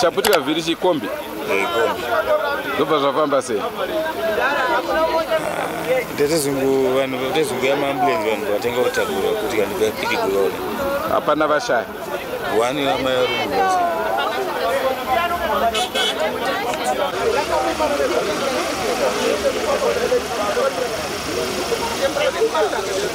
chaputika vhiri chikombi zvobva zvafamba sei ndetezungu vanhu vatezungu yamaambulensi vanhu vatenga kutakura kuti kandipapiti kulona hapana vashaya wani amai varumuvasa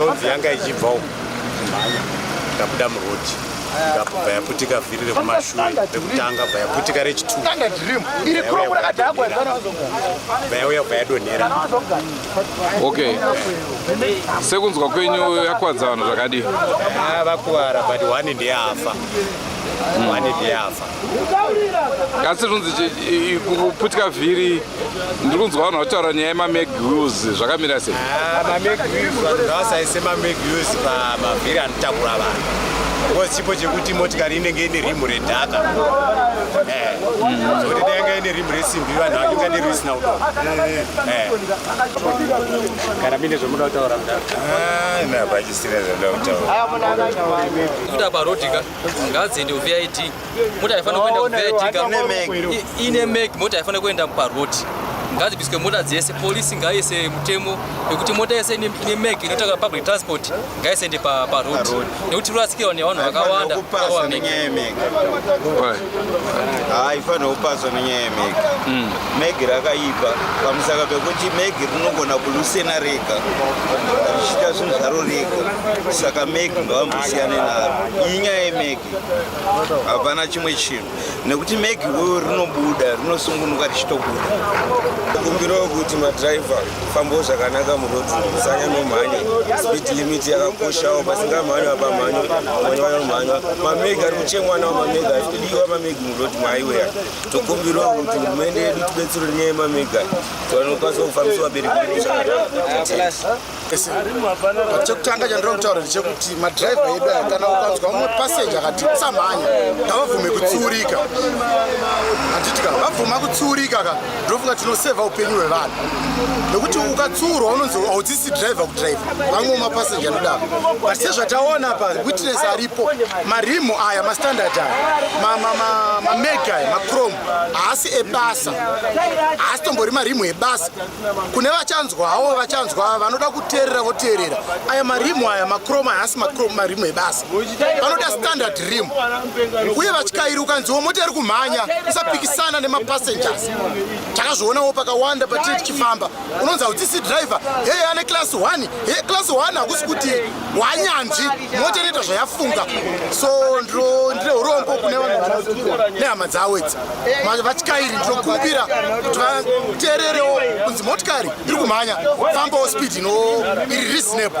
Nonzi yanga ichibva uku kumhanya ikabuda murodi ikabva yaputika vhiri rekumashure rekutanga bva yaputika rechitubva yauya bva yadonhera okay sekunzwa kwenyu yakwadza vanhu zvakadii vakuvara but one ndiyafa one ndiyafa asi zvinonzi kuputika vhiri ndiri kunzwa vanhu vataura nyaya yemamag us zvakamira sei ah, mamag us vanhu ngavasaise mamag us pamavhiri anotakura vanhu bcause chipo chekuti motikari inenge ine rimu redhaka eh, zvokuti dai yanga ine rimu resimbi vanhu vakinga ndiri risina kuto eh. kana mine zvomuda kutaura mudaaachisina ah, zvoda kutaura kuita parodika ngadziende kuvid mota haifanira kuenda kuvid ine mek mota haifanira kuenda parod ngadzibiswe mota dzese polisi ngaise mutemo nekuti mota yese ine mek inotanga public transport ngaisaende parod nekuti rurasikirwa nevanhu vakawanda haifanirwa kupaswa nenyaya yemegi mm. megi rakaipa pamusaka pekuti megi rinogona kulusena rega richiita zvinhu zvaro rega saka megi ngavambosiyane naro iyi nyaya yemegi hapana chimwe chinhu nekuti megi uyo rinobuda rinosungunuka richitobuda kumbiro yokuti madriver fambo zvakanaka murodzi musanya nomhanya speed limit yakakoshawo pasingamhanywa pamhanyo vamwe vanomhanywa mameg ari kuchemwana wamamega ari kudiwa mameg murodzi maiweya tokumbirawo kuti hurumende yedu tibetsero nyaya yemamega tivanokwanisa kufambisa vabereki vedu zvakanaka chekutanga chandiri kutaura ndechekuti madhiraivha edu aya kana ukanzwa mumwe pasenja akati usamhanya ngavabvume kutsiurika handiti ka vabvuma kutsiurika ka ndinofunga tinoseva upenyu hwevanhu nekuti ukatsiurwa unonzi haudzisi driver kudriver vamwe mapasenja anodaro but sezvataona pa witness aripo marimu aya mastandard aya mamega aya macrom haasi ebasa haasi tombori marimu ebasa kune vachanzwa havo vachanzwa vanoda kuteerera voteerera aya marimu aya macrom aya haasi marimu ebasa vanoda standard rim uye vatyairi ukanziwo mota iri kumhanya usapikisana nemapassengers takazvionawo pakawanda patiri tichifamba unonzi haudzisi driver heye ane class 1 heye class 1 hakusi kuti wanyanzvi mota inoita zvayafunga so ndine urombo kune nehama dzawo idzi vatyairi ndinokumbira kuti vateererewo kunzi motikari iri kumhanya fambawo speed ino iri reasonable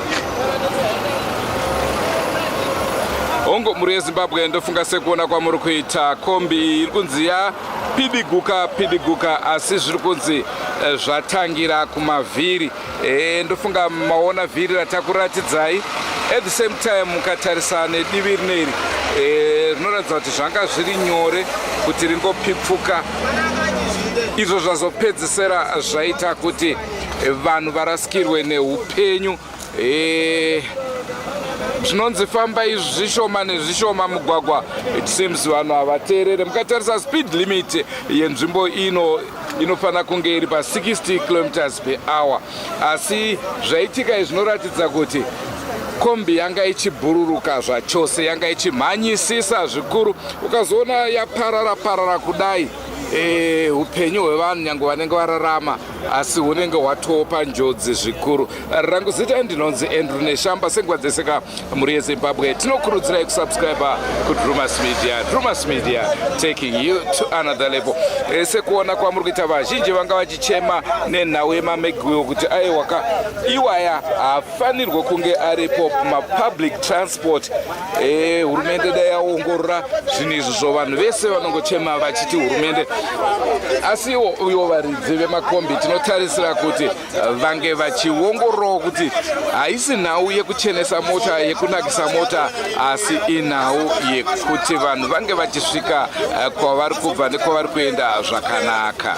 hongu mhuri yezimbabwe ndofunga sekuona kwamuri kuita kombi iri kunzi ya pidiguka pidiguka asi zviri kunzi eh, zvatangira kumavhiri e, ndofunga maona vhiri ratakuratidzai at the same time mukatarisa nedivi rineri eh, rinoratidza e, kuti zvanga zviri nyore kuti ringopipfuka izvo zvazopedzisira zvaita kuti vanhu varasikirwe neupenyu eh, zvinonzi famba izvi zvishoma nezvishoma mugwagwa it seems vanhu havateerere mukatarisa speed limit yenzvimbo ino inofanira kunge iri pa 60 kilometers per hour asi zvaitika izvi zvinoratidza kuti kombi yanga ichibhururuka zvachose yanga ichimhanyisisa zvikuru ukazoona yaparara parara kudai eh, upenyu hwevanhu nyange vanenge vararama asi unenge watopa njodzi zvikuru rangu zita ndinonzi andrew neshamba senguva dzese ka mhuri yezimbabwe tinokurudzirai kusubscriber kudrumas media drumas media taking you to another level e, sekuona kwamuri kuita vazhinji vanga vachichema nenhau yemamegwiwo kuti aiwaka iwaya fanirwe kunge aripo mapublic transport eh, hurumende e, dai yaongorora zvinhu izvi zvo vanhu vese vanongochema vachiti hurumende asi iwo uyo varidzi vemakombi tinotarisira kuti eh, vange vachiongororawo kuti haisi nhau yekuchenesa mota yekunakisa mota asi inhau yekuti vanhu vange vachisvika eh, kwavari kubva nekwavari kuenda zvakanaka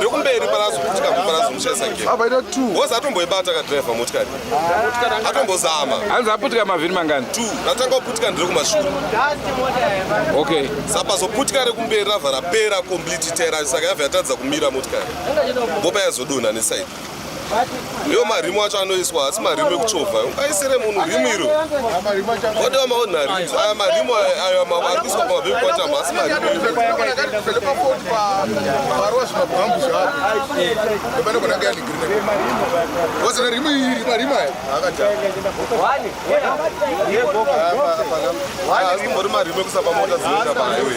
rekumberi parazo kutika kuparazo muchaisa gere abaita two ngozi atomboibata kadriver motikari atombozama hanzi aputika mavhiri mangani two ratanga kuputika ndiri kumashure okay sapazoputika rekumberi rava rapera complete tera saka yava yatadza kumira motikari bopa yazodonha nesaidi iyo marimu acho anoiswa haasi marimu ekuchovha ungaisire munhu rimu iro ode wamaona rims aya marimu ayo ari kuiswa pamabhebkwatama haasi marimu haasi kumbori marimu ekusa pamota dzinoenda pahighway